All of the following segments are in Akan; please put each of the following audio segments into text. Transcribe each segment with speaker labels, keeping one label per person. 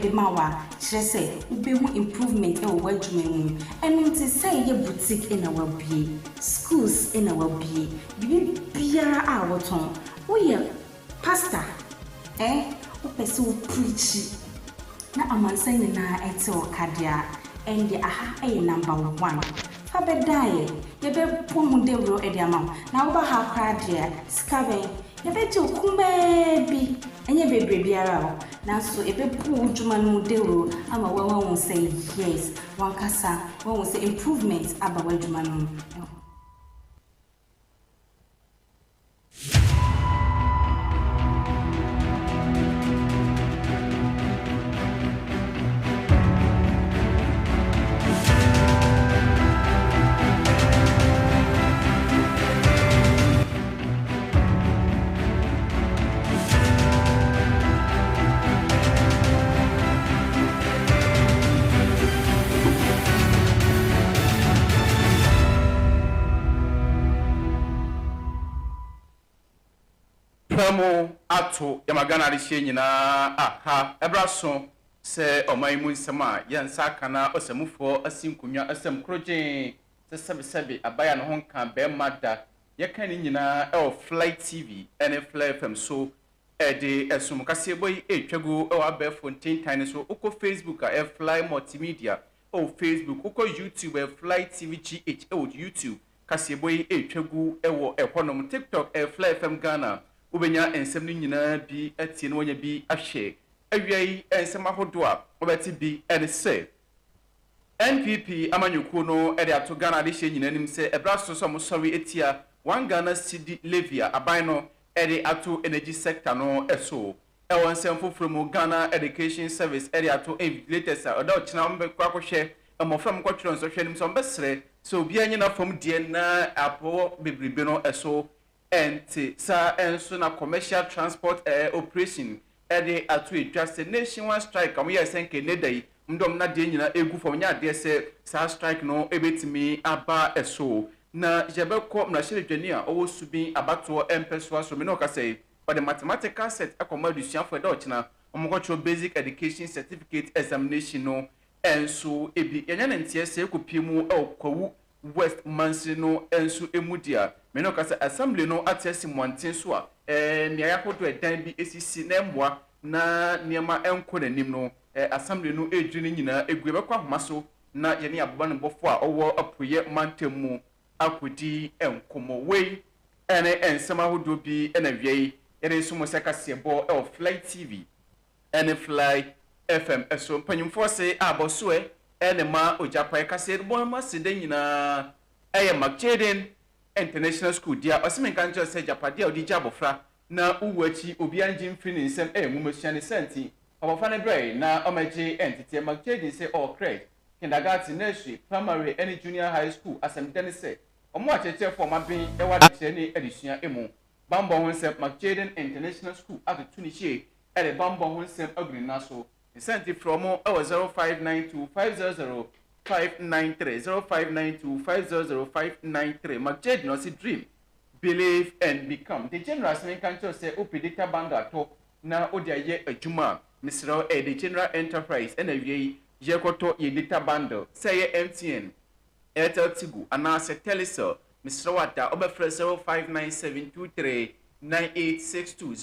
Speaker 1: de ma wo a, kyerɛ sɛ wobehu improvement wɔ w'adwuma mu. Ɛno nti sɛ ɛyɛ boutique na wabue, schools na wabue, biribiara a wotɔn, woyɛ pastor ɛ, wopɛ sɛ wo preachi na amansan nyinaa te wo ka deɛ a, ɛnde aha yɛ number one. Fa bɛdaeɛ, yɛbɛbɔ ho dawuro de ama wo. Na woba ha koraa deɛ a, sika bɛn? Yɛbɛgye wo kumaa bi, ɛnyɛ bebree biara o, nanso ɛbɛbu wo dwuma no mu dawuro ama woahu sɛ yes, w'ankasa woahu sɛ improvement aba w'adwuma no mu.
Speaker 2: Pɛmu ato yɛma Ghana adehyeɛ nyinaa aha ɛbraso sɛ ɔman yi mu nsɛm a yɛn nsa aka na ɔsɛmufoɔ asi nkonnwa asɛm koro gyee sɛ sɛbesɛbe abayaa ne ho nkaa bɛɛma da Yɛka ne nyinaa wɔ Fly TV ne Fly FM so. Yɛde ɛsom kaseɛbɔ yi retwa gu wɔ abɛɛfo ntentan no so. Wokɔ Facebook a, ɛyɛ Fly Multimedia wɔ Facebook. Wokɔ YouTube a, ɛyɛ Fly TV GH wɔ YouTube. Kaseɛbɔ yi retwa gu wɔ ɛhɔnom. TikTok, ɛyɛ Fly FM Ghana. Wobɛnya nsɛm no nyinaa bi atie na woanya bi ahwɛ. Awia yi nsɛm ahodoɔ a wobɛte bi ne sɛ. NPP amanyɔkuo no de ato Ghana adehyeɛ nyinaa anim sɛ ɛberɛ aso sɛ wɔsɔre atia One Ghana Cedi levy a aban no de ato energy sector no so. Wɔ nsɛm foforɔ mu, Ghana Education Service de ato invigilators a ɔda ɔkyena wɔbɛkɔ akɔhwɛ mmɔfra a wɔkɔtwerɛ nsɔhwɛ anim sɛ wɔbɛsrɛ sɛ obiara nyɛ n'afam deɛ na apɔ bebrebe no so Ɛnte saa nso na Commercial Transport Air Operation de ato edwa sɛ nationwide strike a wɔyɛɛ sɛ nka ɛnnɛ da yi wɔde wɔn nnadeɛ nyinaa ɛregu fam nyɛ adeɛ sɛ saa strike no bɛtumi aba so. Na yɛbɛkɔ mmarahyɛbadwani a ɔwɔ Subin abatoɔ mpɛsoa so, me ne ɔka sɛ ɔde mathematical set akɔma adesuafoɔ ɛda ɔkyena wɔkɔkyerɛw Basic Education Certificate Examination no nso bi. Yɛanya ne nteɛ sɛ ɛrekɔpue mu wɔ Kwawu West mansini no nso mu di a, me ne ɔka sɛ Assembly no ate asi mmɔnten so a mmeae ahodoɔ a ɛdan bi sisi na ɛmmoa na nneɛma nkɔ n'anim no, Assembly no redwiri ne nyinaa agu. Yɛbɛkɔ ahoma so na yɛne ababɔnebɔfoɔ a wɔwɔ Apueɛ mantam mu akɔdi nkɔmmɔ. Wei ne nsɛm ahodoɔ bi na awiei yɛde nso mo sɛ kaseɛbɔ wɔ Fly TV ne Fly FM so mpanyimfoɔ se abɔsoɛ ne ma Ɔgyapae kaseɛdibɔ mu aseda nyinaa yɛ McJaden International School dea. Ɔse menka nkyerɛ wo sɛ agyapadeɛ a wode gye abɔfra na wowu akyi obiara ngye mfiri ne nsam yɛ nwomasua ne saa nti abɔfra no brɛe na ɔmɛgye nteteɛ. McJaden se ɔwɔ Crèche, Kindergarten, Nursery, Primary ne Junior High School. Asɛmdida ne sɛ wɔn wɔ akyerɛkyerɛfoɔ a wɔn aben wɔ adekyerɛ ne adesua mu bammɔ ho nsɛm. McJaden International School atoto ne hyie de bammɔ ho nsɛm agu ne nan so. Nsɛmti frɛ wɔn wɔ 0592 500 593, 0592 500 593. McJade na ɔse Dream, Believe and Become. Degenerals no nka nkyerɛ wo sɛ wopɛ data bundle atɔ na wode ayɛ adwuma a, mesrɛ wo, ɛyɛ Degeneral Enterprise. Ɛna awiei, yɛkɔtɔ yɛn data bundle. Sɛ ɛyɛ MTN, Airtel Tigo anaasɛ Telecel, mesrɛ wo ada wobɛfrɛ 0597239862,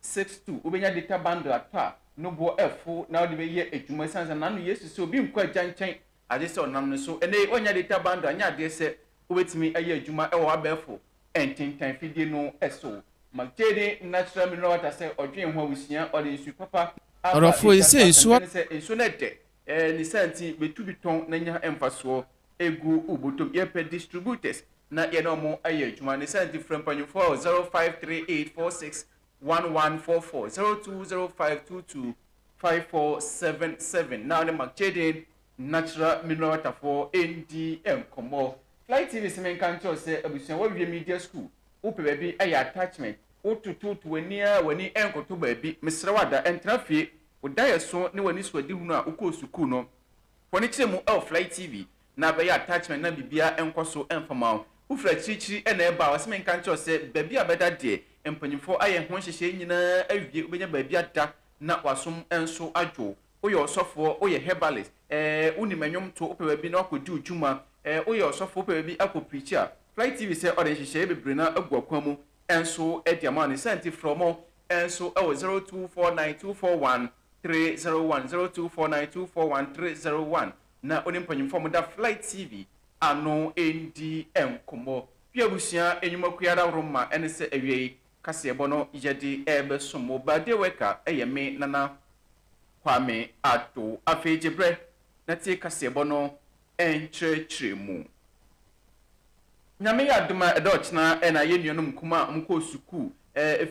Speaker 2: 0597239862, wobɛnya data bundle atɔ a no boɔ ɛfo na wode bɛyɛ adwuma ɛsiane sɛ nano Yesu sɛ obi nkɔ agya nkyɛn agye sɛ ɔnam no so, ɛnɛ yi woannya data bundle a nyɛ adeɛ sɛ wobɛtumi ayɛ adwuma ɛwɔ w'abɛɛfo ntentan fidie no so. Ma Jayden natural mineral water sɛ ɔdwen ho a wosua ɔde nsu papa aba data so a
Speaker 3: asɛmpa ne sɛ nsuo no ɛdɛ.
Speaker 2: Eh ne saa nti bɛtumi tɔn na nya mfasoɔ gu wo bɔtɔm. Yɛpɛ distributors na yɛne ɔmo ayɛ adwuma. Ne saa nti frɛ mpanyinfoɔ wɔ 0538461144, 0205225477 na wone Mark Jaden Natural Mineral Water foɔ ndi nkɔmmɔ. Fly TV se menka nkyerɛ wo sɛ abusua woawie media school, wopɛ baabi ayɛ attachment, wotototo w'ani ara a w'ani nkɔtɔ baabi, mesrɛ wo ada, ntena fie Wo daeɛso ne w'anisoadehunu a wokɔɔ sukuu no, fa no kyerɛ mu wɔ Fly TV na abɛyɛ attachment na biribiara nkɔ so mfa mma wo. Wofiri akyirikyiri na ɛreba a, wɔse menka nkyerɛ wo sɛ baabi a bɛda deɛ, mpanyimfoɔ ayɛ ho nhyehyɛeɛ nyinaa awie, wobɛnya baabi ada na w'asom nso adwo wo. Woyɛ ɔsɔfoɔ, woyɛ herbalist, ɛɛ, wonim nnwom to, wopɛ baabi na woakɔdi wo dwuma, ɛɛ, woyɛ ɔsɔfo, wopɛ baabi akɔ preachi a, Fly TV sɛ ɔde nhyehyɛeɛ bebree no ara agu ɔkwan mu nso de ama wo. Ne saa nti, frɛ wɔn nso wɔ zero two four nine two four one three zero one zero two four nine two four one three zero one na ɔne mpanyimfo a wɔda Fly TV ano redi nkɔmmɔ. Pii abusua nnwumakuo ara woro ma ɛne sɛ awiei kaseɛbɔ no yɛde rebɛsom mo. Birthday worker yɛ me Nana Kwame Addo. Afei gye berɛ na tie kaseɛbɔ no nkyerɛkyerɛ mu. Nyame yɛ adom a ɛda ɔkyena na yɛn nuanom nkumaa a wɔkɔɔ sukuu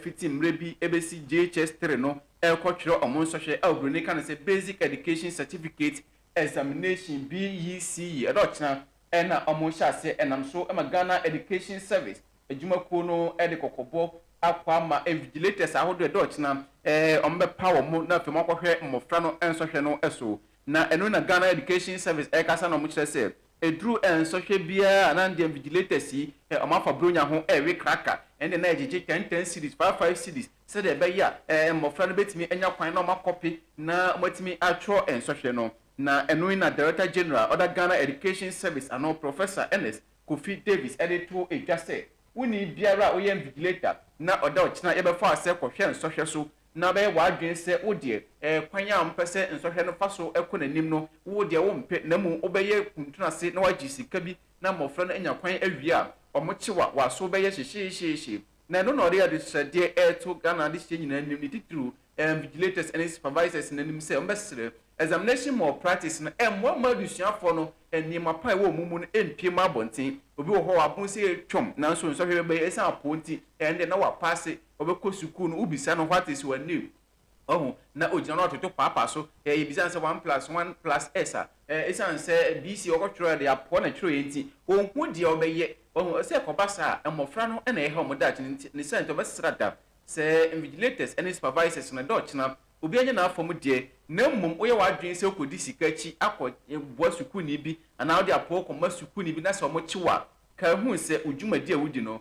Speaker 2: fiti mmerɛ bi bɛsi JHS three no rekɔtwerɛ wɔn nsɔhwɛ a obroni ka no sɛ Basic Education Certificate Examination, BECE, ɛda ɔkyena na wɔhyɛ aseɛ ɛnam so ma Ghana Education Service adwumakuo no de kɔkɔbɔ akɔ ama invigilators ahodoɔ ɛda ɔkyena wɔbɛpa wɔn na afei wɔakɔhwɛ mmɔfra no nsɔhwɛ no so. Na ɛno na Ghana Education Service ɛrekasa na wɔkyerɛ sɛ ɛduru nsɔhwɛ biara a na ndeɛ invigilators yi wɔn afa Buronya ho ɛrewe kraka ɛndeɛ na ɛgyegye ten ten cedis, five five cedis sɛdeɛ ɛbɛyɛ a ɛɛ mmɔfra no bɛtumi anya kwan na wɔn akɔpe na wɔn atumi atwerɛ nsɔhwɛ no. Na ɛno yi na Director General a ɔda Ghana Education Service ano Professor Ernest Kofi Davies ɛde too dwa sɛ wonni biara a ɔyɛ invigilator na ɔda ɔkyena yɛbɛfa asɛ kɔhwɛ nsɔhwɛ so na bɛyɛ w'adwene sɛ wo deɛ, kwan a wɔpɛ sɛ nsɔhwɛ no fa so kɔ n'anim no, wo deɛ wompɛ, na mmom wobɛyɛ kuntunase na woagye sika bi na mmɔfra no anya kwan awie a, wɔkye wo a, w'aso bɛyɛ hyehyeehyeehye. Na ɛno na ɔde adesrɛdeɛ reto Ghana adehyeɛ nyinaa anim, ne titiriw Invigilators ne Supervisors no anim sɛ wɔbɛsrɛ Examination Malpractice no mmoa mma adesuafoɔ no nneɛma pa a ɛwɔ wɔn mu no mpue mma abɔnten. Obi wɔ hɔ a, wabon sɛ ɛretwam, nanso nsɔhwɛ bɛba yi, ɛsiane apoo nti, ɛnde na wapaase. Ɔbɛkɔ sukuu no, wobisa no what is your name? Wahu? Na ogyina na ɔtoto paapa so. Hɛ, yebisa no sɛ one plus one plus S a, ɛ, esiane sɛ BC ɔkɔtwerɛɛ de apoa na twerɛeɛ nti, ɔnhu deɛ ɔbɛyɛ. Wahu? Sɛ ɛkɔba saa a, mmɔfra no na ɛha wɔn daakye no nti, ne sɛ nti ɔbɛsra da. Sɛ invigilators ne supervisors no, da ɔkyena. Obiara nyɛ n'afa mu deɛ. Na mmom woyɛ w'adwene sɛ wokɔdi sika akyi akɔ, ɛ, boa sukuuni bi anaa wode apoo kɔma sukuuni bi na sɛ wɔkye wo a, kae hu sɛ wo dwumadi a wodi no,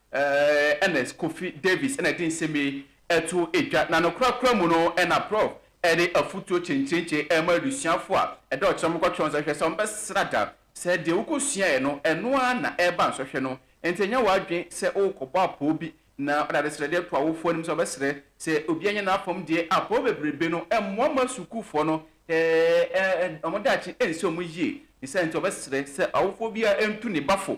Speaker 2: Ernest Kofi Davis na ɛde nsɛm yi to dwa, na no korakora mu no na Prɔf. Ɛde afotuo kyenkyenkyen rema adusuafoɔ a ɛda ɔkyerɛ no mokɔtwerɛ nsɔhwɛ sɛ wɔbɛsra da, sɛ deɛ wokɔsuaeɛ no ɛno ara na ɛreba nsɔhwɛ no nti nyɛ w'adwene sɛ worekɔbɔ apoo bi na wode adesrɛdeɛ to awofoɔ anim sɛ wɔbɛsrɛ sɛ obiara nyɛ n'afam deɛ, apoo bebrebe no mmoa mma sukuufoɔ no wɔn daakye nsi wɔn yie, ne saa nti wɔbɛsrɛ sɛ awofoɔ biara ntu ne ba fo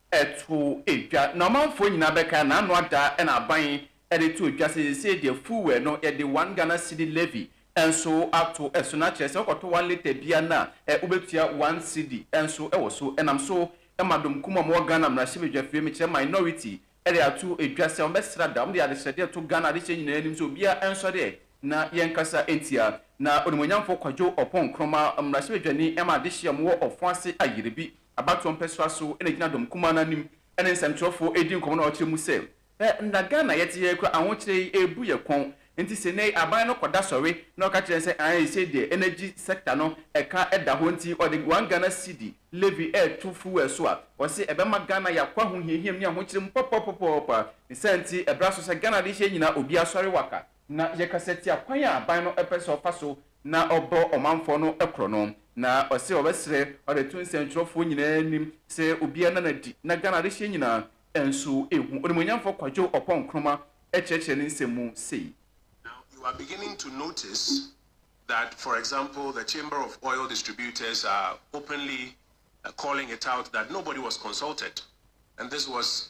Speaker 2: to dwa, na ɔmanfoɔ nyinaa bɛka, n'ano ada na aban de to dwa, sɛ seesei deɛ fuwɛɛ no yɛde one Ghana cedi levy nso ato so, na kyerɛ sɛ wokɔtɔ one litre biara no a wobɛtua one cedi nso wɔ so. Ɛnam so ma dɔm kumaa a wɔwɔ Ghana mmarahyɛbadwafie, mekyerɛ minority, de ato dwa sɛ wɔbɛsra da, wɔde adesrɛdeɛ reto Ghana adehyeɛ nyinaa anim sɛ obiara nsɔre ɛ na yɛnkasa ntia na onimuonyamfoɔ Kwadwo Ɔpɔn Nkrumah, mmarahyɛbadwani ma adehyeɛ a wɔwɔ Ɔfɔn ase ayere bi. Abatoɔ mpɛsoa so na ɛgyina dɔm kumaa no anim ne nsɛmtwerɛfoɔ redi nkɔmmɔ na ɔkyerɛ mu sɛ, Hwɛ na Ghana a yɛte ha yi koraa ahokyerɛ yi ɛrebu yɛn kɔn, nti sɛ nnɛ yi aban no kɔda sɔre na ɔka kyerɛ yɛn sɛ ae sei deɛ energy sector no ɛka da hɔ nti ɔde one Ghana cedi levy reto fuel so a, ɔse ɛbɛma Ghana ayɛ akɔ ahohiahiam ne ahokyerɛ mu pɔpɔpɔpɔɔpɔ a ne saa nti ɛbra so sɛ Ghana adehyeɛ nyinaa obiara sɔre waka Na yɛkasa tia kwan a aban no pɛ sɛ ɔfa so na ɔbɔ ɔmanfoɔ no korɔ no. Na ɔse ɔbɛsrɛ ɔde ato nsɛntwerɛfoɔ nyinaa anim sɛ obiara nna no adi na Ghana adehyeɛ nyinaa nso ɛhu. Onimuonyamfoɔ Kwadwo Ɔpɔn Nkrumah kyerɛkyerɛ ne nsɛm mu sei. Now you are
Speaker 4: beginning to notice that for example the Chamber of Oil Distributors are openly calling it out that nobody was consulted and this was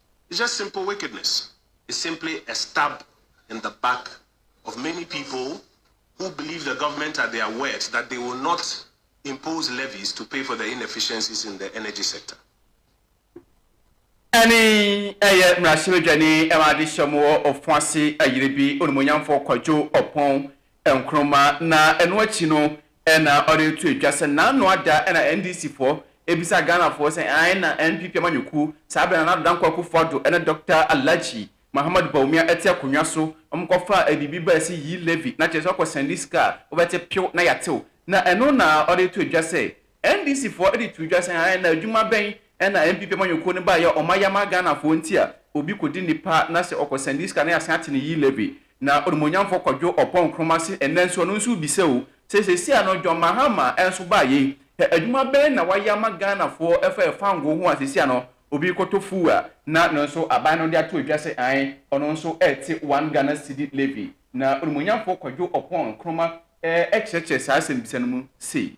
Speaker 4: Just simple wickedness is simply a stab in the back of many people who believe the government at their worst that they will not impose levies to pay for the inefficiencies in the energy sector. Ɛne
Speaker 2: ɛyɛ mmarahyɛbadwani ma adehyeɛ mu wɔ Ofoase Ayiribi, Onimuonyamfoɔ Kwadwo Oppong Nkrumah na ɛno akyi no na ɔde reto adwa sɛ n'ano ada na NDC foɔ bisa Ghana foɔ sɛ ae na NPP amanyɔkuo saa berɛ no Nana Addo Dankwa Akuffo Addo ne Dɔkta Alhaji Mahamadu Bawumia ɛte akonnwa so wɔn kɔ faa abibi baa se yii levy na kyerɛ sɛ wakɔ sɛnde sika a wobɛte pew na yatew na ɛno na ɔde reto adwa sɛ NDCfoɔ de too dwa sɛ ae na adwuma bɛn na NPP amanyɔkuo no baeɛ a ɔma yɛama Ghanafoɔ nti a obi kɔdi nnipa na sɛ ɔkɔ sɛnde sika na yɛasan ate ne yii levy na onimuonyamfoɔ kɔdwo ɔpɔn Nkrumah se ɛnnɛ nso ɛno nso rebisa o sɛ seesei a no John Mahama nso baeɛ yi hɛ adwuma bɛn na wayɛ ama Ghanafoɔ fa yɛ fangoo ho a seesei a no obi rekɔtɔ fuel a na no nso aban no de ato adwa sɛ ae ɔno nso rete one Ghana cedi levy na onimuonyamfoɔ kɔdwo ɔpɔn Nkrumah kyerɛkyerɛ saa asɛmmisa no mu sei.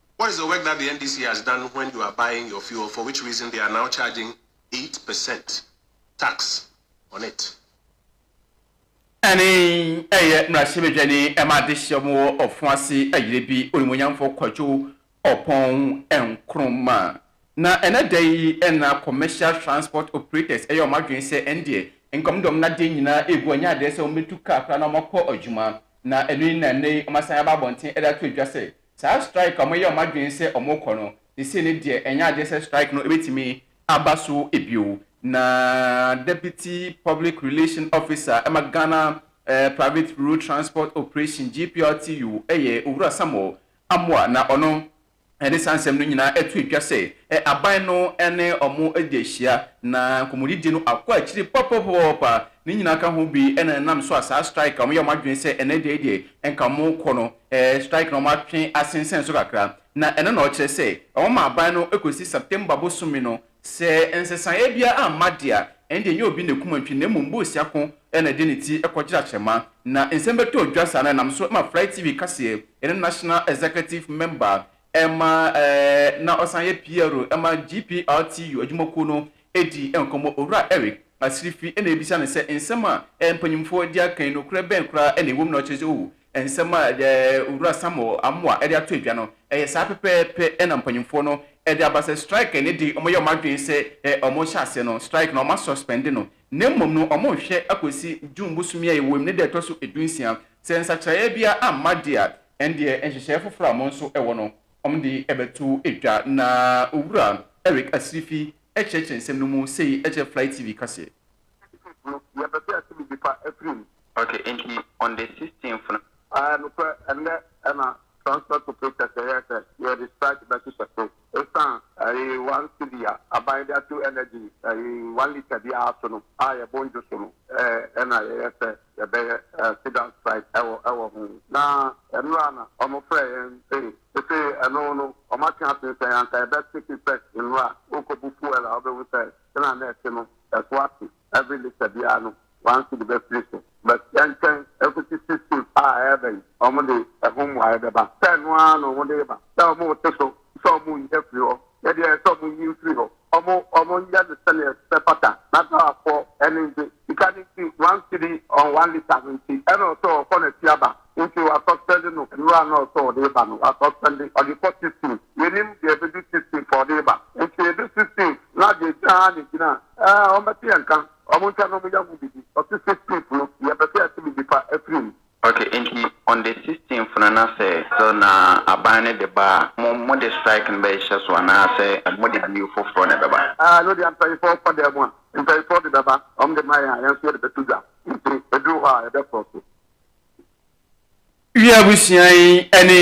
Speaker 4: What is the work that the NDC has done when you are buying your fuel for which reason they are now charging eight percent tax on it. Ɛne
Speaker 2: ɛyɛ mmarahyɛbadwani ma adehyeɛ mu wɔ Ɔfoase Ayire bi, Onimuonyamfoɔ Kwadwo Ɔpɔn Nkrumah. Na ɛnɛ da yi na Commercial Transport Operators ɛyɛ wɔn adwene sɛ ɛndeɛ nka wɔn de wɔn nnadeɛ nyinaa ɛgu, ɛnyɛ adeɛ sɛ wɔbɛtu car koraa na wɔakɔ adwuma. Na ɛno yi na ɛnɛ yi wɔasan aba abɔnten de ato dwa sɛ Saa strike a wɔyɛ a wɔadwene sɛ wɔrekɔ no, seesei ne deɛ ɛnyɛ adeɛ sɛ strike no bɛtumi aba so bio. Na Deputy Public Relation Officer ma Ghana Private Road Transport Operation, GPRTU, yɛ Owura Samuel Amoah na ɔno de saa nsɛm no nyinaa too dwa sɛ aban no ne wɔn adi ahyia na nkɔmmɔdidie no akɔ akyiri pɔpɔpɔpɔpɔpa. Ne nyinaa ka ho bi na ɛnam so a saa strike a wɔyɛ a wɔadwene sɛ ɛnnɛ da yi deɛ nka wɔrekɔ no Ɛɛ, strike na wɔatwe asensɛn so kakra, na ɛno na ɔkyerɛ sɛ wɔma aban no kosi September bosome no. Sɛ nsesaeɛ biara amma de a, ɛnde ɛnyɛ obi na ɛkum antwi, na mmom boosia ko na ɛde ne ti kɔgyere akyerɛma. Na nsɛm bɛtɔɔ dwa saa no, ɛnam so ma Fly TV kaseɛ, yɛne National Executive Member ma ɛɛ na ɔsan yɛ PR ma GPRTU adwumakuo no dii nkɔmmɔ. Owura Eric Asirifi na yɛbisa no sɛ nsɛm a ɛɛ mpanyimfoɔ de aka yi, nokorɛ bɛn koraa na ɛwɔ mu na ɔkyerɛ sɛ oh, Nsɛm a Owura Samuel Amoah de ato dwa no yɛ saa pɛpɛɛpɛ na mpanyimfoɔ no de aba sɛ strike ne de wɔyɛ wɔn adwene sɛ wɔhyɛ aseɛ no, strike no wɔasuspɛnde no na mmom no wɔrehwɛ akɔsi June bosome a yɛwɔ mu ne da a ɛtɔ so du nsia. Sɛ nsakyeraeɛ biara amma deɛ a, ɛndeɛ nhyehyɛeɛ foforɔ a wɔn nso wɔ no, wɔde bɛto dwa, na Owura Eric Asirifi kyerɛkyerɛ nsɛm no mu sei kyerɛ Fly TV kaseɛ. Sixteenth no, yɛpɛ sɛ yɛte nnipa
Speaker 5: afiri mu. Ok, enti on the sixteenth no. Ae, nokorɛ, ɛnnɛ na transport operators yɛyɛɛ sɛ yɛde strike bɛhyehyɛ so esiane. Ae, one cedi a aban de ato energy ae one litre biara so no a yɛbɔ ndwo so no ae na yɛyɛ sɛ yɛbɛyɛ sit down strike ɛwɔ ɛwɔ ho. Na ɛno a na wɔn frɛ yɛn ae. Ese ɛno no wɔn ate ase sɛ anka yɛbɛ take effect nnora a, worekɔbu fuel a wobɛhu sɛ Sɛnea na ɛte no, ɛso ate. Every litre biara no, one cedi bɛfiri so. But yɛntwɛn ɛkɔsi six fifth a ɛreba yi, wɔn de ɛho mmuaeɛ bɛba. Sɛ ɛno ara na wɔn de reba, sɛ wɔn rete so sɛ wɔn reyi afiri hɔ, yɛ deɛ ɛyɛ sɛ wɔn nyi mfiri hɔ. Wɔn, wɔn nyɛ no sɛdeɛ ɛbɛfata na Ghanafoɔ ani ngye. Sika no nti, one cedi on one litre no nti, ɛna ɔsɛ ɔkɔ n'akyi aba. Nso w'asuspɛnde no nwura a na ɔsɛ ɔde reba no w'asuspɛnde ɔde kɔ sixteen yɛnim deɛ ɛbɛdu sixteen fɔ ɔde reba nso ɛdu sixteen na deɛ ɛgyina ha na ɛgyina ɛɛ wɔn bɛte yɛn nka wɔn ntwa na wɔn yɛ ho bibi ɔse sixteen no yɛ pɛ sɛ yɛte bibi pa afiri mu. Ok nti on the sixteen no na sɛ still na aban no de ba a mo mo de strike no bɛ hyɛ so anaa sɛ mo de bill foforɔ na ɛbɛba. Aah ɛno deɛ mpanyinfoɔ
Speaker 3: kɔ dan mu a mpanyinfoɔ de bɛba wɔn de ma yɛn a yɛn nso yɛde bɛto dwa nti ɛduru hɔ a yɛbɛ force.
Speaker 2: Wiɛ abusua yi ɛne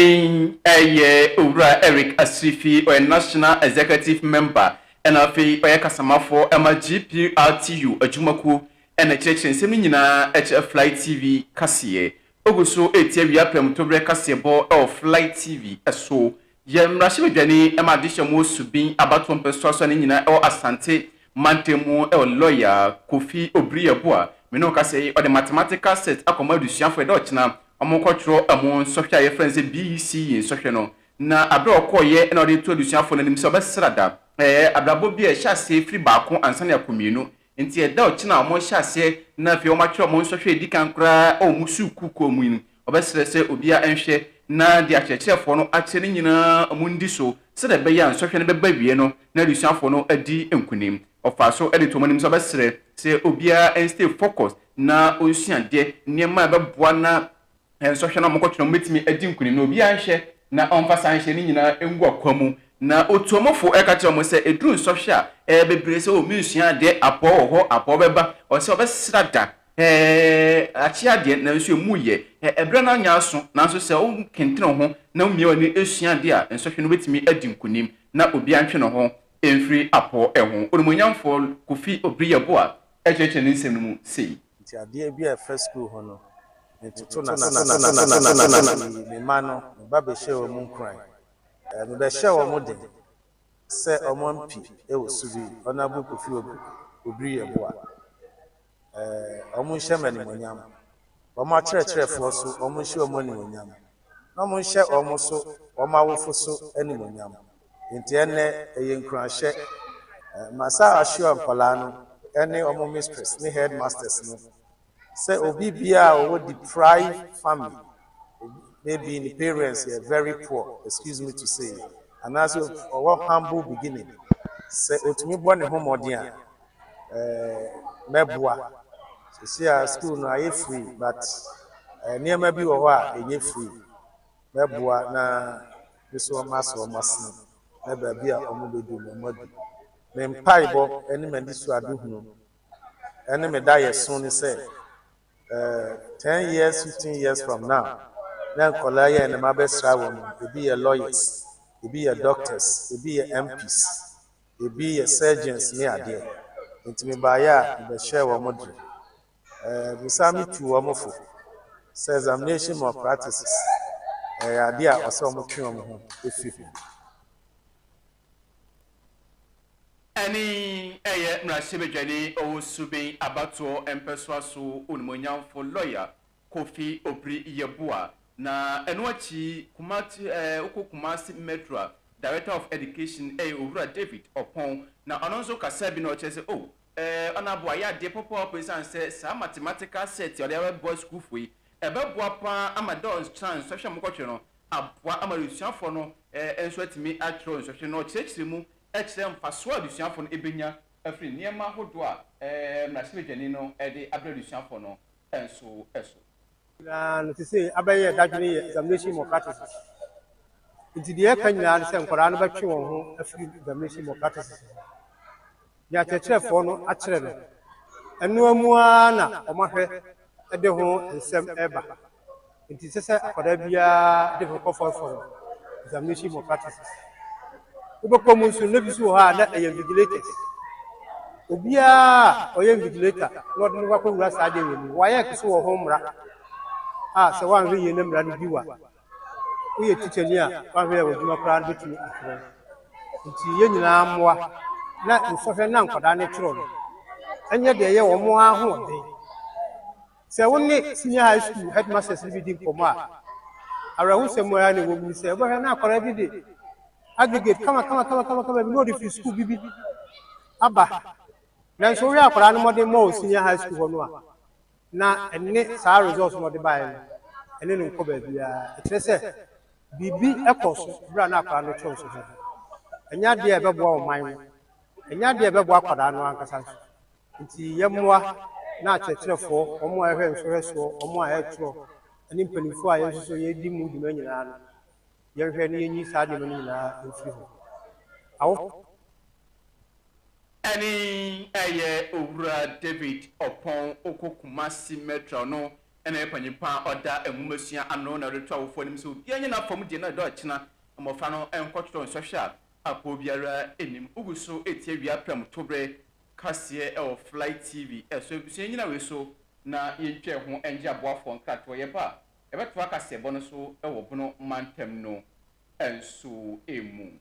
Speaker 2: ɛyɛ Owura Eric Asirifi, ɔyɛ National Executive Member ɛna afei ɔyɛ kasamafoɔ ɛma GPRTU adwumakuo ɛna ɛkyerɛkyerɛ nsɛm no nyinaa ɛkyerɛ Fly TV kaseɛ. Ogu so ɛretie awia prɛmtoberɛ kaseɛbɔ ɛwɔ Fly TV ɛso Yɛn mmarahyɛbadwani ma adehyeɛ mu Subin abatoɔ mpɛsoasoa no nyinaa wɔ Asante mantam mu wɔ lɔya Kofi Obriabu a me ne wo kasa yi, ɔde mathematical set akɔma adusuafoɔ yɛdɛ ɔkyena wɔkɔ twerɛ ɛmu nsɔhwɛ a yɛfrɛ no sɛ BECE nsɔhwɛ no na aberɛ a ɔkɔɔyɛ na ɔde to adusuafoɔ no anim sɛ ɔbɛsra da ɛɛ abrabɔ bi a ɛhyɛ aseɛ firi baako ansa na akɔ mmienu Enti ɛda a ɔkyena a wɔrehyɛ aseɛ na afei wɔatwerɛ wɔn nsɔhwɛ a ɛdi kan koraa wɔ wɔn sukuukuo mu yi no, wɔbɛsrɛ sɛ obiara nhwɛ na deɛ akyerɛkyerɛfoɔ no akyerɛ no nyinaa wɔndi so sɛdeɛ ɛbɛyɛ a nsɔhwɛ no bɛba awieɛ no na adesuafoɔ no adi nkunim. Ɔfaa so de too wɔn anim sɛ ɔbɛsrɛ sɛ obiara nstay focused na ɔnsua adeɛ, nneɛma a ɛbɛboa na Nsɔhwɛ no a wɔkɔtwe no no betumi adi nkonim na obiara nhwɛ na ɔmfa saa nhyehyɛe no nyinaa ngu ɔkwa mu. Na Otuomofo ka kyerɛɛ wɔn sɛ, Eduru nsɔhwɛ a ɛyɛ bebree sɛ, 'O, minsua adeɛ, apɔw wɔ hɔ, apɔw bɛba, ɔsɛ ɔbɛsra da, ɛ, akye adeɛ, nanso emu reyɛ, ɛ, ɛberɛ no anyɛ aso. Nanso sɛ wokentene wo ho na wumia w'ani sua ade a, nsɔhwɛ no betumi adi nkonim na obiara ntwe ne ho mfiri apɔw ho. Onimuonyamfo Kofi Obriyeboah kyerɛkyerɛ ne nsɛm no mu sei. Nti adeɛ bi a ɛfa
Speaker 6: sukuu ho no, metoto no ase na meyii me mma no, me ba bɛhyɛɛ wɔn nkuran. Mebɛhyɛɛ wɔn den sɛ wɔmpi wɔ su bi, Honourable Kofi Obiri Yeboah, wɔnhyɛ me animuonyam, wɔn akyerɛkyerɛfoɔ so wɔnhyɛ wɔn animuonyam, na wɔnhyɛ wɔn so, wɔn awofo so animuonyam. Enti ɛnnɛ ɛyɛ nkuranhyɛ ma saa Ashua nkwadaa no ne wɔn mistress ne headmasters no sɛ obi biara a ɔwɔ deprived family, maybe ne parents yɛ very poor, excuse me to say, anaasɛ ɔwɔ humble beginning, sɛ ɔtumi bɔ ne ho mmɔden a, mɛboa. Sisi a school no ayɛ free but nneɛma bi wɔ hɔ a ɛnyɛ free. Mɛboa na Me so wɔn ase wɔn asene, na baabi a wɔbɛduru no wɔadu. Me mpaebɔ ne m'anisoadehunu ne me daeɛso ne sɛ, ten years, fifteen years from now, na nkwadaa yi a ɛnnɛ mabɛsra wɔn yi, ebi yɛ lawyers, ebi yɛ doctors, ebi yɛ MPs, ebi yɛ surgeons ne adeɛ. Enti mebaeɛ a, mebɛhyɛɛ wɔn den. Mesan metuu wɔn fo sɛ examination malpractices yɛ adeɛ a ɔsɛ wɔtwe wɔn ho fi ho.
Speaker 2: Ɛne ɛyɛ mmarahyɛbadwani Owusu-Beng abatoɔ mpɛsoa so onimuonyamfo lɔya Kofi Opri-Yeboah na ɛno akyi Kumate wokɔ Kumasi Metro a Director of Education yɛ Owura David Opong na ɔno nso kasa bi na ɔkyerɛ sɛ oh Ɛɛ, ɔno aboa yɛ adeɛ pɔpɔɔpɔ esiane sɛ saa mathematical set a ɔde abɛboa sukuufo yi, ɛbɛboa pa ara ama dɛ ɔnkyerɛ nsɔhwɛ a mokɔtwerɛ no aboa ama adesuafoɔ no nso atumi atwerɛ nsɔhwɛ no na ɔkyerɛkyerɛ mu kyerɛ mfasoɔ a adesuafoɔ no bɛnya afiri nneɛma ahodoɔ a mmarahyɛbadwani no de abrɛ adesuafoɔ no nso so. Na
Speaker 7: no te sɛ abɛyɛ dadwene yɛ examination malpractices. Nti deɛ ɛka nyinaa ne sɛ nkwadaa no bɛtwe wɔn ho afiri examination malpractices ho. Deɛ akyerɛkyerɛfoɔ no akyerɛ no, ɛnoa mu ara na wɔn ahwɛ de ho nsɛm reba. Nti ɛsɛ sɛ akwadaa biara de ho kɔ fɔrfɔrɔ examination malpractices. Wobɛkɔ mu nso, na bi nso wɔ hɔ a na ɛyɛ invigilators. Obiara a ɔyɛ invigilator na wɔde no akɔwura saa adeɛ wɔ mu. WAEC nso wɔ ho mmara a sɛ woanhwɛ yie na mmara no bi wa. Woyɛ tikyani a woanhwɛ yɛ w'adwuma koraa no bɛtumi akyerɛ wo. Nti yɛn nyinaa mmoa na nsɔhwɛ na nkwadaa no kyerɛ no ɛnyɛ deɛ ɛyɛ wɔn ara ahoɔden. Sɛ wo ne senior high school headmasters no bi di nkɔmmɔ a, awerɛhosɛm ara na ɛwɔ mu ne sɛ wobɛhwɛ na akwadaa bi de aggregate kamakamakamakama bi na ɔde firi sukuu bi bi aba. Nanso wohwɛ akwadaa no mmɔden mmɔ wɔ senior high school hɔ no a, na ɛne saa results na ɔde baeɛ no, ɛne no nkɔ baabiara. Ɛkyerɛ sɛ biribi kɔɔ so berɛ a na akwadaa no kyerɛw so ho. Ɛnyɛ adeɛ a ɛbɛboa ɔman no, ɛnyɛ adeɛ a ɛbɛboa akwadaa no ankasa nso. Nti yɛmmoa na akyerɛkyerɛfoɔ, wɔn a wɔhwɛ nhwɛhwɛsoɔ, wɔn a wɔtwerɛ, ne mpanimfoɔ a yɛn nso so yɛdi mu dwuma nyinaa no, yɛnhwɛ na yɛnyi saa nneɛma no nyinaa mfiri hɔ. Awofo.
Speaker 2: Ɛne ɛyɛ Owura David Oppong Okoh Kumasi Metro no na ɛyɛ panyin pa a ɔda nwomasua ano na ɔde to awofoɔ anim sɛ obiara nyɛ n'afam deɛ na ɛda ɔkyena mmɔfra no nkɔtwerɛ nsɔhwɛ a apoɔ biara nnim. Wogu so retie awia prɛmtoberɛ kaseɛ ɛwɔ Fly TV so Abusua nnyina wei so na yɛntwa ɛho ɛngye aboafoɔ nkratoɔ Yɛba a yɛbɛtoa kaseɛbɔ no so wɔ Bono mantam no nso mu.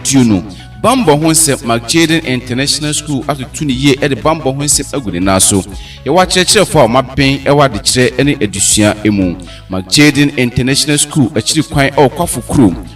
Speaker 8: tuo no bambɔ ho nsɛm mark jaden international school atoto ne yie de bambɔ ho nsɛm agu ne nan so yɛwɔ akyerɛkyerɛfo a wɔaben wɔ adekyerɛ ne adesua mu mark jaden international school akyiri kwan wɔ kwafo kurom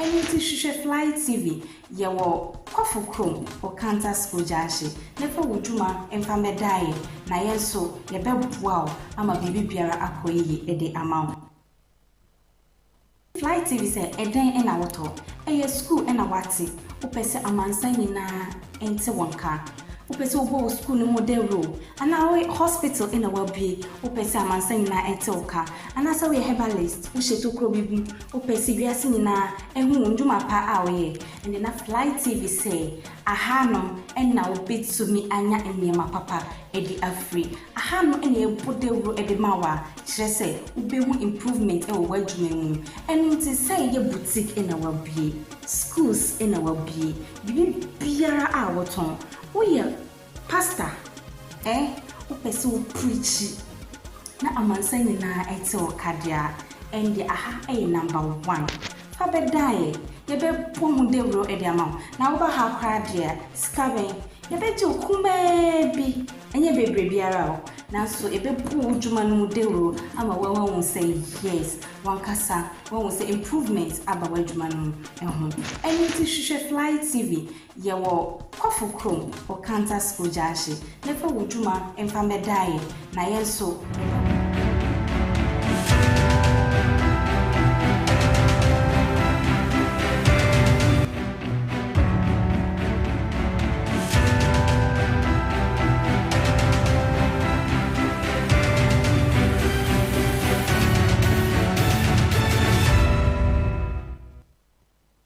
Speaker 1: Ɛno nti hwehwɛ Fly TV. Yɛwɔ Kɔfo kurom wɔ Kanta School Junction. Ne fa wo dwuma mfa mmɛda yɛn na yɛn nso yɛbɛboa wo ama biribi biara akɔ yiye de ama wo. Fly TV sɛ ɛdɛn na wotɔ? Ɛyɛ sukuu na woate? Wopɛ sɛ amansan nyinaa nte wo nka? Wopɛ sɛ wobɔ wo sukuu no mu dawuro? Anaa wo hospital na woabue? Wopɛ sɛ amansan nyinaa ɛte wo ka? Anaasɛ woyɛ herbalist, wohyɛ tokuro bi gu? Wopɛ sɛ wiase nyinaa ɛhu wo ndwuma pa a woyɛ? Ɛnde na Fly TV sɛ, Ahanom na wobɛtumi anya nneɛma papa ɛde afiri. Ahanom na yɛbɔ dawuro ɛde ma wo a, kyerɛ sɛ wobɛhu improvement ɛwɔ w'adwuma mu. Ɛno nti sɛ yɛ boutique na woabue, schools na woabue, Biribiara a wotɔn. Woyɛ pastor eh wopɛ sɛ wo preachi na amansan nyinaa ɛte wo ka deɛ a, ɛnde aha ɛyɛ number one. Fa bɛ dan yɛ, yɛ bɛ bɔ ho dawuro ɛde ama wo. Na wo ba ha koraa deɛ a, sika bɛn? Yɛ bɛ gye wo kumaa bi, ɛnyɛ bebree biara o, nanso yɛ bɛ bɔ wo dwuma no mu dawuro ama wo ahu sɛ yes, wankasa. Wahu sɛ improvement aba w'adwuma no mu ɛho. Ɛno nti hwehwɛ Fly TV. Yɛwɔ Kɔfo Krom wɔ Kanta School Gyaahye. Ne fa wo dwuma mfa mmɛdaa yɛn na yɛn nso.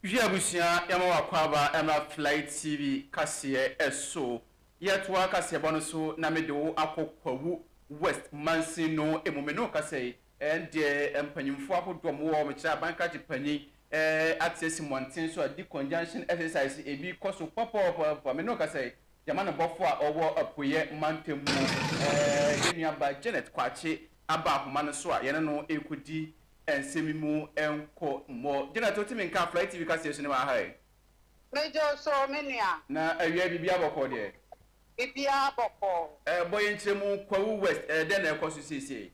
Speaker 2: Hwɛ abusua yɛma w'akwaaba ɛmmra Fly TV kaseɛ so Yɛtoa kaseɛbɔ no so na mede wo akɔ Kwawu West Mansino mu Me ne wo kasa yi Ɛnde, mpanyimfo ahodoɔ a wɔwɔ me kyerɛ aban krakye panyin ate asi mmɔnten so a di conjunction exercise ebi kɔ so pɔpɔɔpɔɔpɔ. Me ne wo kasa yi, Germany bɔfo a ɔwɔ Apueɛ mantam mu, yɛn nuabaa Janet Kwakye aba ahoma no so a yɛne no rekɔdi nsɛm mu nkɔmmɔ. Janet, wote me nka a Fly TV kaseɛ so ne m'aha yi? Megye wo
Speaker 9: so, me nua. Na awia yi, biribiara
Speaker 2: bɔkɔɔ deɛ? Biribiara
Speaker 9: bɔkɔɔ. Bɔ yɛn nkyerɛmu,
Speaker 2: Kwawu West, dɛn na ɛrekɔ so seesei?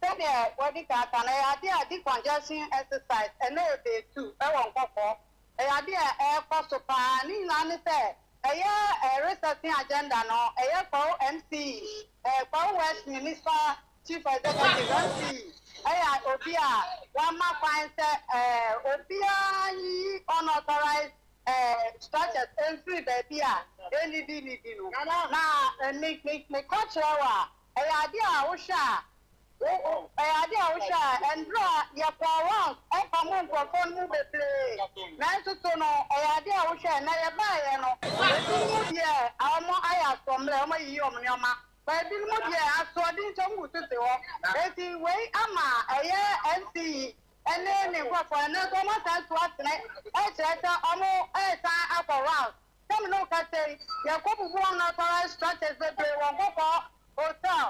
Speaker 2: Sɛdeɛ
Speaker 9: wɔadi kan aka no, ɛyɛ adeɛ a decongestion exercise ɛna ɛbɛ tu wɔ nkɔkɔɔ. Ɛyɛ adeɛ a ɛrekɔ so pa ara. Ne nyinaa ne sɛ, ɛyɛ resetting agenda no, ɛyɛ Kwawu MCE, ɛɛ Kwawu West Minista Chief Executive, MCE, ɛyɛ obi a wama kwan sɛ ɛɛ obiara nyiyi unauthorized ɛɛ structures mfiri baabi a ɛnnidi nnidi no. Na me me meka kyerɛ wo a, Ɛyɛ adeɛ a wohwɛ a ɛyɛ adeɛ a wohwɛ a ɛnberɛ a yɛkɔɔ Wales ɛmpamoo nkorɔfoɔ no mu bebree nanso so no ɛyɛ adeɛ a wohwɛ a ɛnɛ yɛbaeɛ no ebinom deɛ wɔn ayɛ asoɔmmerɛ wɔn ayiyi wɔn nnoɔma na ebinom deɛ asoɔden nti wɔn butu te hɔ enti wei ama ɛyɛ NCE ɛne ne nkorɔfoɔ no nanso wɔn asan so atene ɛkyerɛ sɛ wɔn resan akɔ Wales Sɛ me ne wo kasa yi, yɛkɔbubu wɔn authorized structures bebree wɔ Nkokɔɔ Hotel,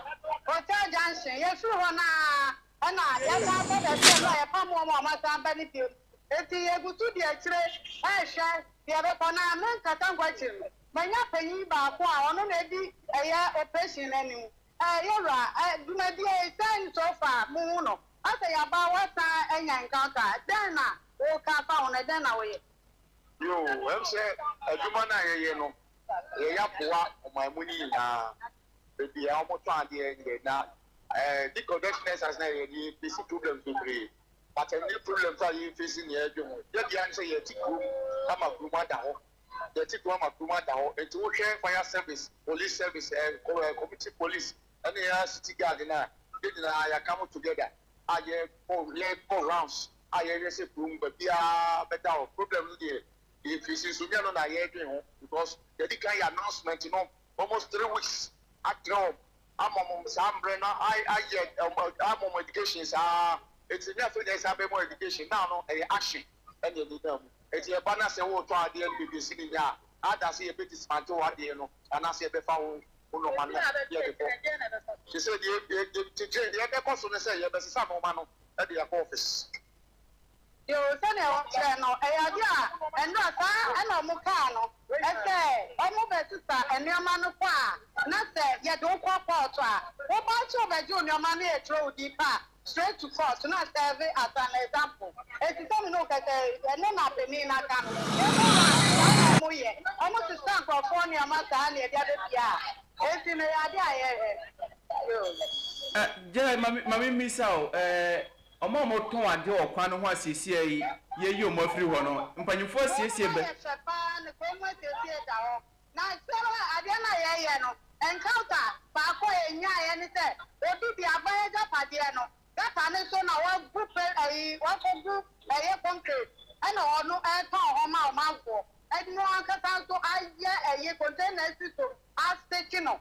Speaker 9: Hotel Junction. Yɛfiri hɔ no ara, ɛnna yɛsan kɔ baabi a ɛno a yɛpam wɔn a wɔasan aba no bio. Enti yɛgu so di akyire rehwɛ deɛ ɛbɛkɔ. Na me nkasa nkɔ akyiri no, manya panin baako a ɔno na adi ɛyɛ operation no anim. Eh, yɛwura, eh, dwumadie yi, sɛn so fa mohu no? Asɛ yɛaba a, woasan anya encounter. Dɛn na woka fa ho, na dɛn na woyɛ? Bio,
Speaker 5: ɛwom sɛ adwuma no a yɛyɛ no, yɛyɛ aboa ɔman mu no nyinaa, baabi a wɔtɔn adeɛ ne yɛn na ɛdi convention na ɛsan na yɛde bɛsi problems bebree. But ɛne problems a yɛn face ne yɛn dwe ho. Yɛ bia ne sɛ yɛte kurom ama kurom ada hɔ. Yɛte kurom ama kurom ada hɔ. Nti wohwɛ fire service, police service, eh, community police, ɛne yɛn city guard no a, yɛn nyinaa yɛaka ho together a yɛbɔ, yɛbɔ rounds a yɛyɛ sɛ kurom ba biara bɛda hɔ problem no deɛ yɛ firi since onyɛ no na yɛdwen ho because yɛdi kan yɛ announcement no almost three weeks atrɛ wɔn ama wɔn saa mbrɛ no ayɛ ama wɔn education saa eti ne afei na ɛsan bɛ mu education naa no ɛyɛ action ɛna ɛni naa mu eti ɛba na sɛ wɔretɔ adeɛ no beebi esi ne nya a ada sɛ yɛbɛ dismantle wɔ adeɛ no anaasɛ yɛbɛfa ho ho nɔɔma no yɛde kɔ te sɛ deɛ deɛ deɛ deɛ ɛbɛkɔ so no sɛ yɛbɛsesa nɔɔma no de akɔ office.
Speaker 9: Yoo sɛdeɛ wokyerɛ no ɛyɛ adeɛ a ɛnora saa na ɔmo kaa no ɛsɛ ɔmo bɛ sesa nnoɔma no kɔ a na sɛ yɛde wo kɔ court a wo ba nso ɔbɛgye wo nnoɔma no ɛtwerɛ wo din pa straight to court na serve as an example ɛti sɛ me ne wo kɛsɛ ɛno na panin no aka no ɔmo wura nso saa na ɔmo yɛ ɔmo sesa nkorɔfoɔ nnoɔma saa na ɛde abɛfie a ɛti no ɛyɛ adeɛ a yɛ Eh, Gyai, ma me, ma me mmisa o,
Speaker 2: eh, wɔn a wɔtɔn ade wɔ kwan no ho asiesie yi, yɛyi wɔn afiri hɔ no, mpanyinfoɔ asiesie bɛ? Ɛyɛ fɛ paa na kwan mu asiesie da hɔ.
Speaker 9: Na kyerɛ mu a, adeɛ no a yɛyɛ no, encounter baako a yɛnyaeɛ ne sɛ, obi de aba n'agyapadeɛ no, gutter no so na wagu pɛ, ayi, wakɔgu ɛyɛ concrete, ɛna ɔno retɔn hɔ ma ɔmanfoɔ. Ɛno ankasa nso ayɛ ɛyi, container asi so, aseke no,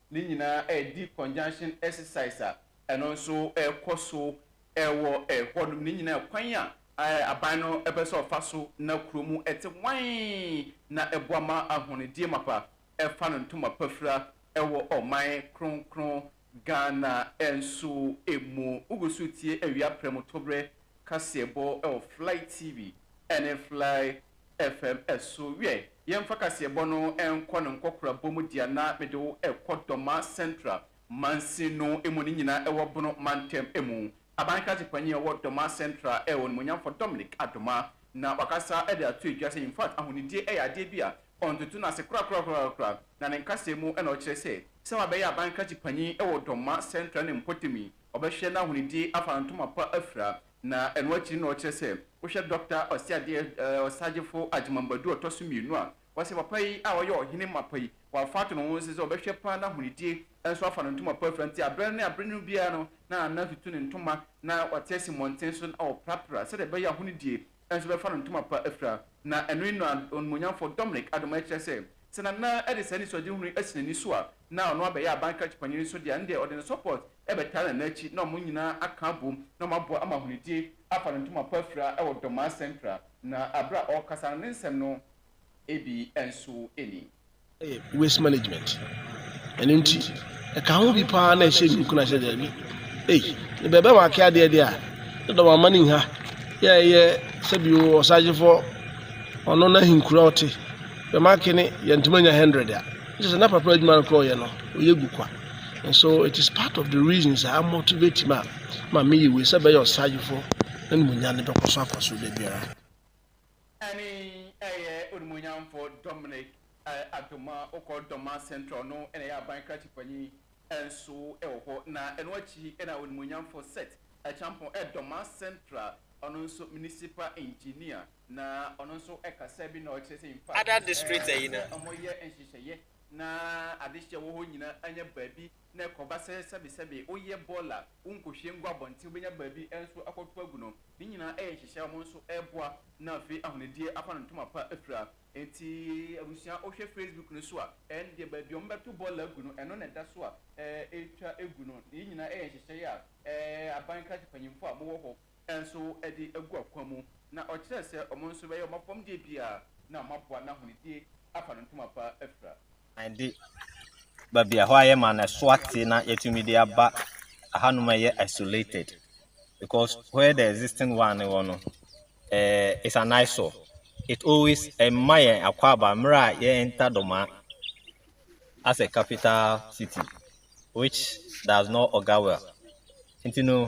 Speaker 2: ne nyinaa redi conjunction exercise a ɛno nso ɛrekɔ so wɔ hɔnom. Ne nyinaa kwan a aban no bɛ sɛ ɔfa so na kuro mu te wann na ɛboa ma ahɔnedie mapa fa no ntoma pa fira wɔ ɔman kronkron Ghana nso mu. Wogu so retie awia prɛmo toberɛ kaseɛbɔ wɔ Fly TV ne Fly FM so wiɛ. Yɛmfa kaseɛbɔ no nkɔ no nkɔkorabɔ mu deɛ na mede wo rekɔ Dɔma Central mansin no mu no nyinaa wɔ Bono mantam mu. Aban Kransɛ Panyin a ɔwɔ Dɔma Central yɛ Onimuonyamfoɔ Dominic Adoma na wakasa de ato edwa sɛ infact ahonidie yɛ adeɛ bi a ɔntoto no ase korakorakorakorakora na ne nkasɛɛ mu na ɔkyerɛ sɛ sɛ wabɛyɛ Aban Kransɛ Panyin wɔ Dɔma Central no mpɔtam yi ɔbɛhwɛ na ahonidie afa ntoma pa afira Na ɛno akyiri na ɔkyerɛ sɛ wohwɛ Dɔkta Ɔseadeɛ Ɔsagyefo Agyemang Badu a ɔtɔ so mmienu a, wɔse papa yi a ɔyɛ ɔhene mapa yi, wafa ato ne ho nse sɛ ɔbɛhwɛ paa na ahonidie nso afa no ntoma pafira nti aberɛ ne aberɛ no biara no na na tutu ne ntoma na ɔte asi mmɔnten so na ɔprapra sɛdeɛ ɛbɛyɛ a ahonidie nso bɛfa no ntoma pa afira. Na ɛno yi na Onimuonyamfoɔ Dominic Adomah kyerɛ sɛ sɛ Nana de saa anisoadehunu yi asi n'ani so a na ɔno abɛyɛ abankrakye panyin nso deɛ ɛndeɛ ɔde ne support bɛtaa Nana akyi na wɔn nyinaa aka abom na wɔaboa ama Ahunidie afa ne ntoma pa afira wɔ Dɔmaa Central na bere a ɔrekasa no ne nsɛm no bi nso ni. yɛ waste
Speaker 10: management ɛno nti ɛka ho bi paa na ɛhyɛ ne nkuna sɛ daabi ei ne bɛbɛ ma ake adeɛ deɛ a ne dɔm ama ne nha yɛ ɛyɛ sɛ bi wɔ ɔsagyefoɔ ɔno na ahenkura ɔte bɛma ake ne yɛntoma nya 100 a kyɛ sɛ na papa adwuma no korɔ ɔyɛ no ɔyɛ gu kwa Nso it is part of the reasons a motivate me a ma meyɛ wei sɛ bɛyɛ ɔsragyefoɔ na animuonyam no bɛkɔ so akɔ so da biara. Ɛne
Speaker 2: ɛyɛ Onimuonyamfoɔ Dominic Adoma Okoh Doma Central no na ɛyɛ aban krakye panyin nso wɔ hɔ na ɛno akyi na Onimuonyamfoɔ Seth Acheampong Doma Central ɔno nso Municipal Engineer na ɔno nso kasa bi na ɔkyerɛ sɛ in fact Ada District ayi no.
Speaker 11: sɛ wɔyɛ nhyehyɛeɛ
Speaker 2: na adehyeɛ wɔ hɔ nyina anya baabi na ɛkɔba sɛ sɛbesɛbe woyɛ bɔɔl a wonkɔhwie ngu abɔnten wobɛnya baabi nso akɔto agu no, ne nyinaa yɛ nhyehyɛe a wɔn nso reboa na afei ahonidie afa no ntoma pa afira. Enti abusua wohwɛ facebook no so a ɛndeɛ baabi a wɔbɛto bɔɔl agu no ɛno na ɛda so a ɛretwa gu no, yei nyinaa yɛ nhyehyɛe a aban krakye mpanyimfoɔ a mowɔ hɔ nso de agu akwan mu, na ɔkyerɛɛ sɛ wɔn nso bɛyɛ wɔn afɔmdeɛ biara na wɔaboa n'ahonidie afa no ntoma pa afira. An de
Speaker 11: baabi a ɛhɔ ayɛ ma no ɛso ate na yɛatumi de aba ahanom a ɛyɛ isolated because where the existing one wɔ no eh, it's an eyesore it always ɛma yɛn akwaaba mmerɛ a yɛ enter dɔma as a capital city which does not augur well nti no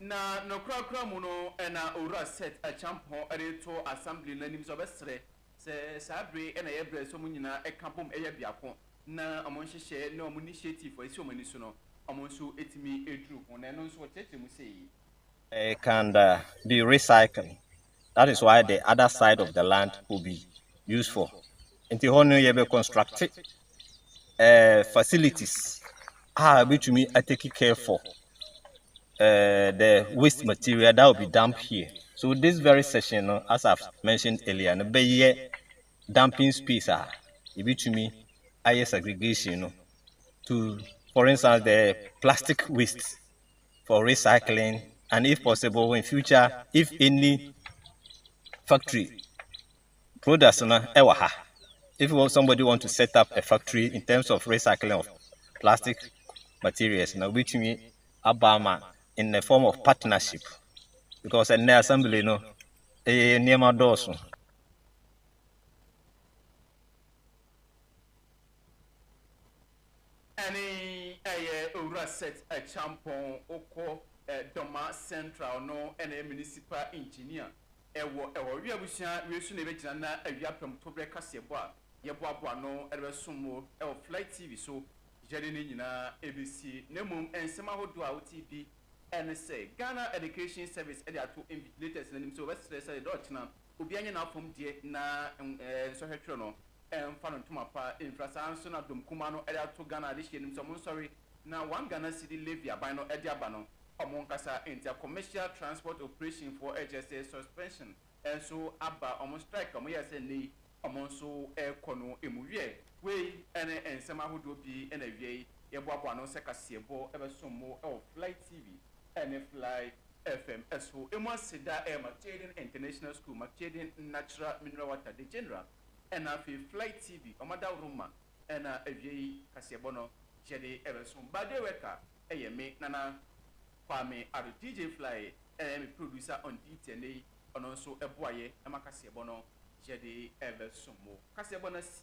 Speaker 2: Na nokorɛkorɛ mu no na Owura Seth Acheampong de reto Assembly no anim sɛ ɔbɛsrɛ sɛ saa bere na ɛyɛ bere a ɛsɛ wɔn nyinaa ka bom yɛ biako na wɔn nhyehyɛe ne wɔn initiative a ɛsi wɔn ani so no wɔn nso tumi duru ho. Na ɛno nso ɔkyerɛkyerɛ mu sei. It can
Speaker 11: be recycled that is why the other side of the land will be used for nti hɔ no yɛbɛ construct uh, facilities a ɛbɛtumi atake care for uh, the waste material that will be dumped here so this very session no as I've mentioned earlier no bɛyɛ dumping space a yɛbɛtumi ayɛ segregation no to for instance the plastic waste for recycling and if possible in future if any factory products no ɛwɔ ha if somebody want to set up a factory in terms of recycling of plastic materials na wobɛtumi aba ama in the form of partnership because ɛnɛ assembly no ɛyɛ eh, nneɛma dɔɔso
Speaker 2: Ɛne ɛyɛ Owura Seth Akyampong, ɔkɔ Doma Central no na ɛyɛ Municipal Engineer wɔ ɛhɔ. Wia abusua wei so na yɛbɛgyina na awia pɛm to berɛ kaseɛbɔ a yɛboaboa ano de bɛsom mo wɔ Fly TV so. Yɛde ne nyinaa bɛsie. Na mmom nsɛm ahodoɔ a wote bi ne sɛ, Ghana Education Service de ato invigilators no anim sɛ wɔbɛsrɛ sɛ da ɔkyena Obiara nyɛ n'afam deɛ na nsɔhwɛ twerɛ no mfa no ntoma pa mfira saa nso na dɔm kumaa no de ato Ghana adehyeɛ no mu sɛ ɔmo nsɔre na one Ghana cedi levy aban no de aba no ɔmo nkasa ntia commercial transport operation foɔ ɛkyerɛ sɛ suspension nso aba ɔmo strike a ɔmo yɛɛ sɛ nnɛ yi ɔmo nso ɛkɔ no mu wiɛ. Wei ne nsɛm ahodoɔ pii na awiei yɛboaboa ano sɛ kaseɛbɔ bɛsom mo wɔ Fly TV ne Fly FM so emu aseda yɛ Macedoine International School, Macedoine Natural Mineral Water, The General, na afei Fly TV, wɔn adaworoma na awiei kaseɛbɔ no yɛde bɛso. Bade Worker yɛ me, Nana Kwame Addo, DJ Fly yɛ me producer on duty ɛnnɛ yi, ɔno nso boaeɛ ma kaseɛbɔ no yɛde bɛso mo. Kaseɛbɔ no asi.